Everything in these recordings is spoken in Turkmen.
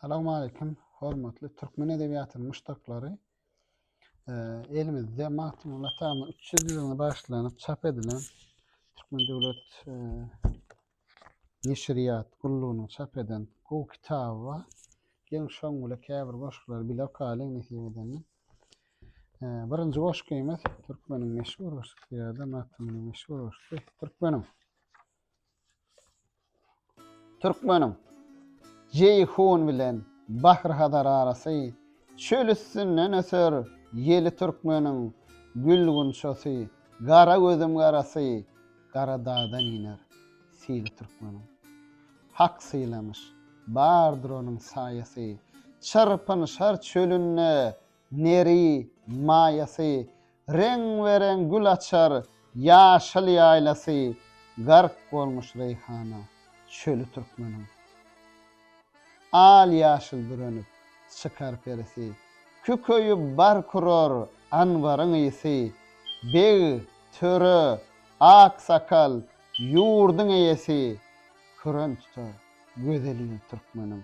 Assalamu aleykum, hormatly türkmen edebiýatynyň muşdaklary. Elimizde Magtymguly Atamyň 300 ýylyna bagyşlanyp çap edilen Türkmen döwlet e, neşirýat gullugynyň çap eden gowy kitaby bar. Geliň şoň bilen käbir goşgulary bile okaýalyň nesip edende. E, birinji goşgymyz türkmeniň meşhur goşgusy ýa-da Magtymgulyň meşhur goşgusy türkmeniň Türkmeniň Jeýhun bilen Bahyr-Hazar arasy, Çöl üstünden öser ýeli Türkmeniň gül-gunçasy, Gara gözüm garasy, Gara dagdan iner sili Türkmeniň. Hak sylamyş, bardyr onuň saýasy, Çyrpynşar çölünde Neri, maýasy, reň-be-reň gül açar ýaşyl ýaýlasy, gark bolmuş reýhana çöli türkmeniň. Al-ýaşyl bürenip çykar perisi, kükeýip bark urar anbaryň ysy, beg, töre, aksakal, ýurduň eýesi, küren tutar gözel il türkmeniň.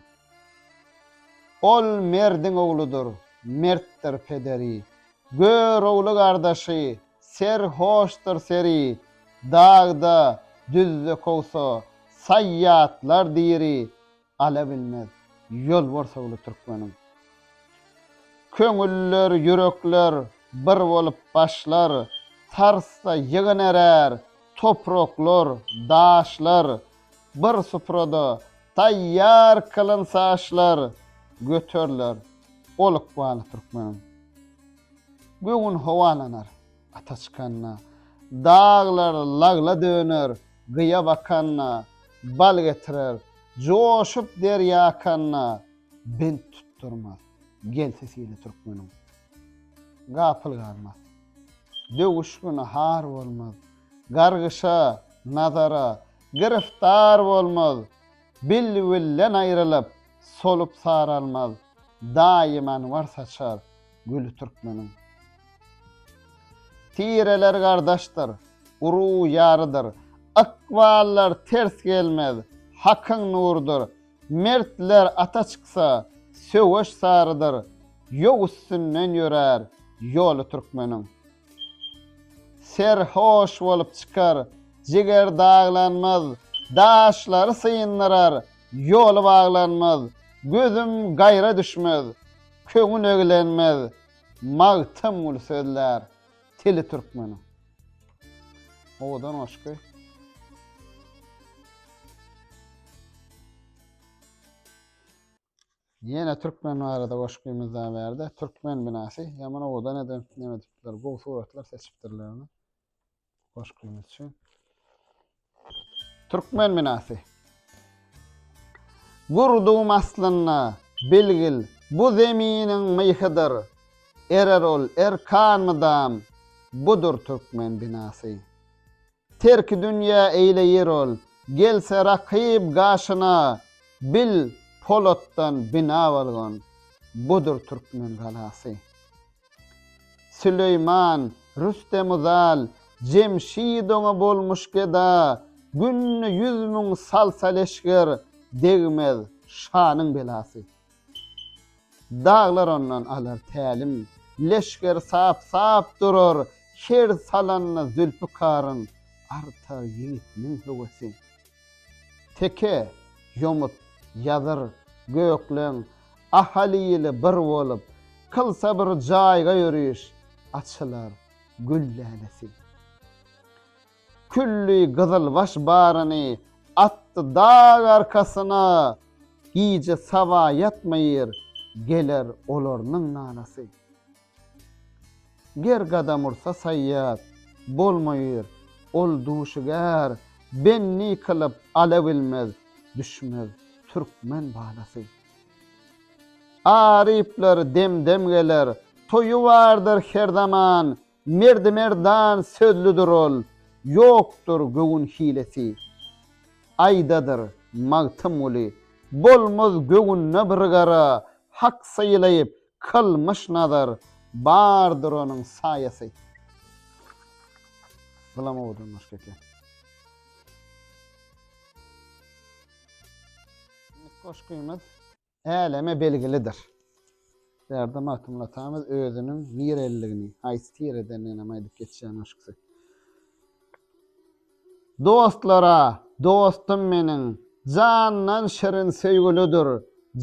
Ol merdiň ogludyr, mertdir pederi. Gör ogly gardaşy, ser hoşdur seri. Dagda, düzde kowsa, saý ýatlar diri. Ala bilmez, ýolbars ogly türkmeniň. Köňüller, ýürekler bir bolup başlar. Sarsda ýygynerär topraklar, daşlar. Bir suprada taýýar kylynç aşlar göteriler ol ykbaly türkmeniň. Göwün howalanar ata çykanda, daglar lagla döner gyýa bakanda, bal getirer joşup derýa akanda, bent tutdurmaz gelse sili türkmeniň. Gapyl galmaz, döwüş güni har bolmaz, Gargyşa, nazara, giriftar bolmaz, Bilbilden aýrylyp, solup saralmaz, Daýym anwar saçar güli türkmeniň. Tireler gardaşdyr, uruw ýarydyr, Ykballar ters gelmez, hakyň nurudyr, Mertler ata çyksa, söweş sarydyr, Ýok üstünden ýörär ýoly türkmeniň. Serhoş bolup çykar. Jiger daglanmaz. Daşlary syndyrar. Ýoly baglanmaz. Gözüm gaýra düşmez. Köňül eglenmez. Magtymguly sözlär. Tili türkmeniň. Owadan goşgy. Ýene türkmen barada goşgymyz da bärde. Türkmen binasy. Ýaman owadan edip, näme edipdiler. Gowy suratlar seçipdirler. Goşgymyz üçin. Türkmen binasy. Gurdum aslynda bilgil bu zeminiň myhydyr. Erer ol erkan mydam budur türkmen binasy. Terki dünýä eýleýir ol. Gelse rakyp gaşyna, Bil, polatdan bina bolgan, Budur türkmen galasy. Süleýman, Rüstemi zal, Jemşid oňa bolmuş geda, Günde ýüz müň salsa leşger, Degmez şanyň belasy. Daglar ondan alar tälim. Leşger sap-sap durar, her salanda Zülpikaryň artar ýigitiniň höwesi. Teke, ýomut, ýazyr, gökleň, ahaly-ýyly bir bolup, kylsa bir jaýga ýöriş, açylar gül lälesi. Külli gyzylbaş baryny atdy dag arkasyna, Gije saba ýatmaýr, geler olarnyň nalasy. Ger gadam ursa saýýat, bolmaýr ol duşiger, Benni kylyp ala bilmez, düşmez türkmen balasy. Aryplar dem-dem geler, toýy bardyr her zaman, Merdi merdan sözlüdir ol, Ýokdur göwün hilesi. Aýdadyr, Magtymguly, Bolmaz göwünde bir gara, Hak sylaýyp, kylmyş nazar, Bardyr onuň saýasy. Bulam owadan goşgy eken. Goşgymyz. Äleme belgilidir. Berdi Magtymguly atamyz özüniň nireliligini, haýsy tiredendiginem aýdyp geçýär maşksy. Dostlara, dostum meniň, jandan şirin söýgülidir,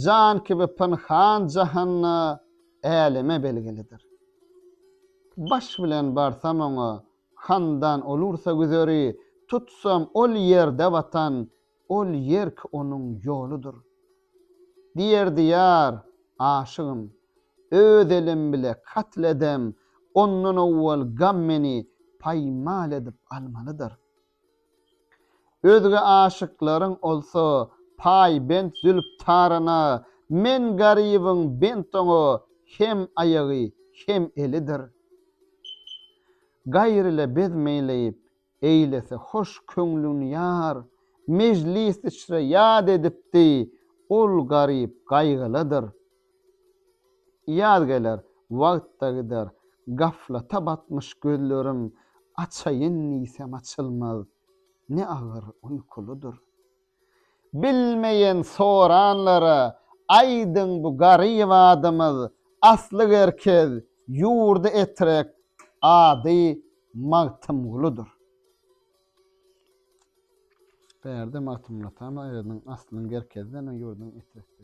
jan kibi pynhan jahanda äleme belgilidir. Baş bilen barsam oňa, handan olursa güzeri, tutsam ol ýerde watan, Ol ýerk onuň ýoludyr. Diýerdi ýar, Aşygym, öz elim bile katl edem, ondan owwal gam meni paýmal edip almalydyr. Özge aşyklaryň olsa paýbent Zülptarana, men garybyň bent oňa hem aýagy, hem elidir. Gaýr ile bezmeýleýip, eýlese hoş köňlün ýar, Mejlis içre ýad edipdi, ol garyp gaýgylydyr. Ýaz geler, wagt-da gider, gaflata batmyş gözlerim, Açaýyn diýsem açylmaz, ne agyr uýkulydyr. Bilmeýän soranlara aýdyň bu garyp adymyz asly gerkez ýurdy etrek ady Magtymgulydyr. Bärde Magtymguly atamyz aýdyň aslyň gerkezden ýurdyň etrekden.